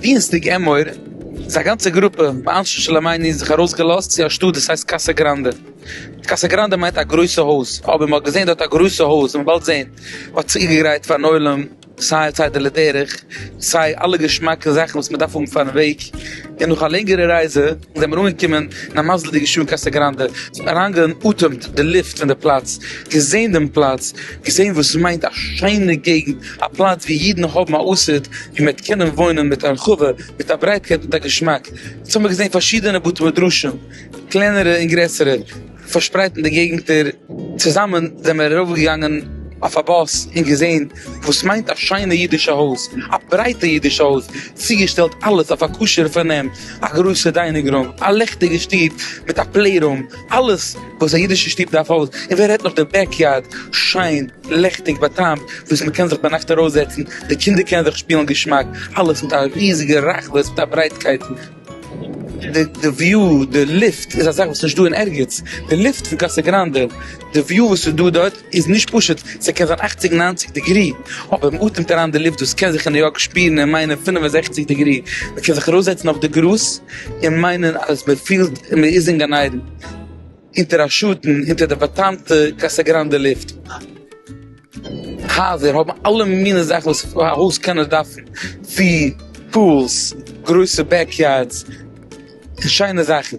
דינסטאג עמאור איז א גאנצע גרופע מאנשי שלומינו זיך ארויס געלאזט צו א שטאט וואס הייסט קאסא גראנדע, קאסא גראנדע מיינט א גרויסע הויז, אבער מען האט געזען דארט א גרויסע הויז וועט מען באלד זען, מען האט צוגעגרייט פארן עולם סיי צידה לדרך סיי אלע געשמאקע זאכן וואס מען דארף האבן פארן וועג, און נאך א לענגערע רייזע, זעמיר אנגעקומען אין א מזל'דיגע שעה קאסע גראנדע, אריינגעאטעמט די לופט פון די פלאץ, געזען דעם פלאץ, געזען וואס מיינט א שיינע געגנט, א פלאץ ווי אידן האבן א אסד, ווי מען וועט קענען וואוינען מיט הרחבה, מיט א ברייטקייט, מיט א געשמאק, אונז האמיר געזען פארשידענע בתי מדרשים, קלענערע און גרעסערע. פארשפרייט אין די געגנטער, צוזאמען זעמער ארויפגעגאנגען אויף א באס און געזען וואס מיינט א שיינע אידישע הויז, א ברייטע אידישע הויז, צוגעשטעלט אלעס אויף א כשר'ע פארנעם, א גרויסע דיינינג רום, א לעכטיגע שטוב מיט א פלעי רום, אלעס וואס א אידישע שטוב דארף אויס, און ווער רעדט נאך די בעק יארד, שיין, לעכטיג, באטעמט, וואס מען קען זיך ביינאכט ארויסזעצן, די קינדער קענען זיך שפילן געשמאק, אלעס מיט א ריזיגע רחבות, מיט א ברייטקייט. די די וויו די לופט איז א זאך וואס איז נישט דא אין ערגעץ, די לופט פון קאסא גראנדע די וויו וואס איז דא דארט איז נישט פשוט, ס'קען זיין אכציג ניינציג דעגרי אבער מען אטעמט אריין די לופט וואס קען זיך אין ניו יארק שפירן און מיינען פֿינף און זעכציק דעגרי, מען קען זיך ארויסזעצן אויף די גראז און מיינען אז מען פילט מען איז אין גן עדן. אונטער א שאטן אונטער די באטאנטע קאסא גראנדע לופט הייזער האבן אלע מיני זאכן וואס א הויז קען דארפן ווי פולס גרויסע בעק יארדס און שיינע זאכן.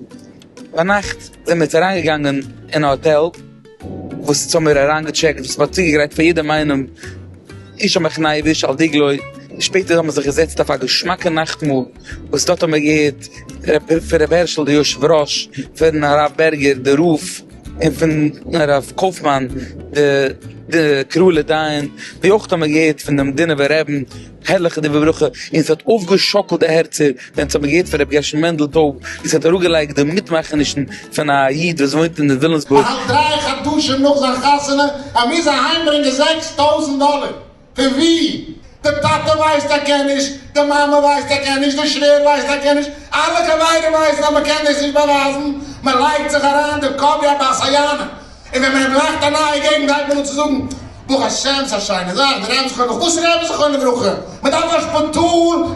ביינאכט זעמיר אונז אריינגעגאנגען אין א האטעל וואס אונז האמיר אריינגעטשעקט וואס מ'האט צוגעגרייט פאר יעדעם איינעם איש על מכנאיו ואיש על דגלו, שפעטער האמיר זיך געזעצט אויף א געשמאקע נאכטמאל. וואס דארט האט מען געהערט פון רבי הערשל די יושב ראש, פון הרב בערגער די רב, און פון הרב קויפמאן די קראלע דיין, ווי אויך האט מען געהערט פון דעם דינובער רעבין הערליכע דברי ברכה, און ס'האט אויפגעשאקלט די הערצער ווען ס'האט מען געהערט פון רבי גרשון מענדל טויב, ווי ס'האט אראפגעלייגט די מיטמאכענישן פון א איד וואס וואוינט אין ווילאמסבורג. באהאלט דריי חדשים נאך זיין חתונה, ער מוז אהיימברענגען זעקס טויזנט דאלער. פון ווי? די טאטע ווייסט ער קען נישט, די מאמע ווייסט ער קען נישט, די שווער ווייסט ער קען נישט, אלע חברים ווייסן אז מ'קען דאס נישט באווייזן, מ'לייגט זיך אריין דעם קאפ ווי א בת היענה, און ווען מ'ענט לייכט א נייע געגנט גייט מען אן צו זאגן ברוך השם ס'א שיינע זאך די רעבע'ס חוה מ, וואס רעבע זכרונו לברכה? מ'דארף א שפיטאל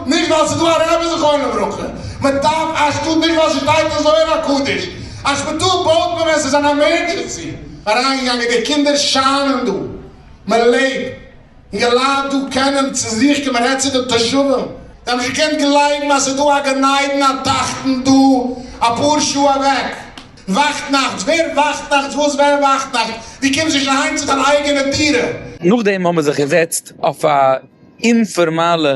נישט ווייל ס'איז דא א רעבע זכרונו לברכה, מ'דארף א שטאט נישט ווייל ס'שטייט אין זוהר הקדוש, א שפיטאל בויט מען ווען ס'איז אן עמערדזשענסי. אריינגעגאנגען די קינדער שיינען דא. מען לעבט און די לייט דא קענען צו זיך קומען, רעד צו די תושבים, זיי האבן נישט געקענט גלייבן אז ס'איז דא א גן עדן א תחתון דא אפאר שעה אוועק, וואכט נאכטס, ווער וואכט נאכטס, וואס ווער וואכט נאכטס, דו קומסט נישט אהיים צו דיין אייגענע דירה. נאכדעם האבן מיר זיך געזעצט אויף א אינפארמאלע.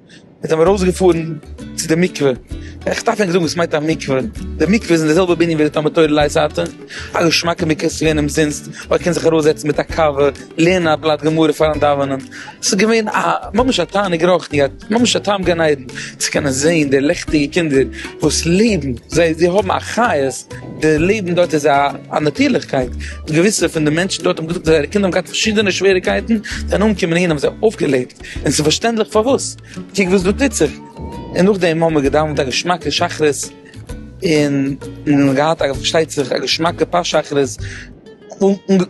זענען מיר ארויסגעפארן צו די מקווה, איך דארף ענק זאגן וואס מיינט א מקווה, די מקווה איז אין די זעלבע בנין ווי די תלמוד תורה לייזעטע, א געשמאקע מקווה איז צו ווערן אומזינסט, מען קען זיך ארויסזעצן מיט א קאווע, לערנען א בלאט גמרא פארן דאווענען, ס'איז געווען א ממש א תענוג רוחני, ממש א טעם גן עדן, צו קענען זען די לעכטיגע קינדער וואס לעבן, זיי זיי האבן א חיות, די לעבן דארט איז א נאטורליכקייט, געוויסע פון די מענטשן דארט האבן געזאגט אז זייערע קינדער האבן געהאט פארשידענע שוועריקייטן, זענען אנגעקומען אהין האבן זיי אויפגעלעבט. און ס'איז פארשטענדליך פארוואס, קוק וואס דא טוט זיך, און נאכדעם האבן מיר געדאווענט א געשמאקע שחרית, און און געהאט א פארשטייט זיך א געשמאקע פאר שחרית,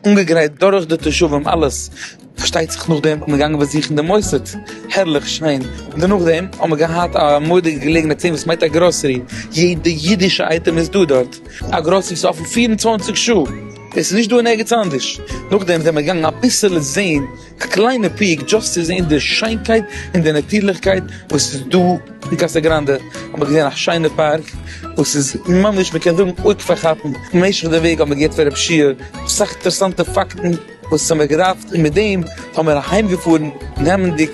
אנגעגרייט דורך די תושבים אלעס, פארשטייט זיך נאכדעם איז מען געגאנגען באזוכן די מוסד, הערליך שיין, און דערנאך דעם האבן מיר געהאט א מורא'דיגע געלעגנהייט צו זען וואס מיינט א גראסערי, יעדע אידישע אייטעם איז דא דארט, א גראסערי איז אפן פֿיר און צוואַנציק שעה, עס איז נישט דא אין ערגעץ אנדערש, נאכדעם זעמער געגאנגען אביסעלע זען. א קליינע פיק דזשאסט צו זעהן די שיינקייט און די נאטירליכקייט וואס איז דא אין קאסא גראנדע, האבן מיר געזעהן א שיינע פארק וואס איז ממש מ'קען זאגן אויג פארכאפענד, במשך די וועג האבן מיר געהערט פון רב שיעור אסאך אינטערעסאנטע פאקטן וואס האבן מיר געדארפט און מיט דעם האבן מיר אהיים געפארן נעמענדיג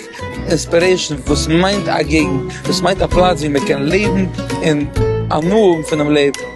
אינספירעישן וואס מיינט א געגנט, וואס מיינט א פלאץ ווי מ'קען לעבן און הנאה האבן פונעם לעבן.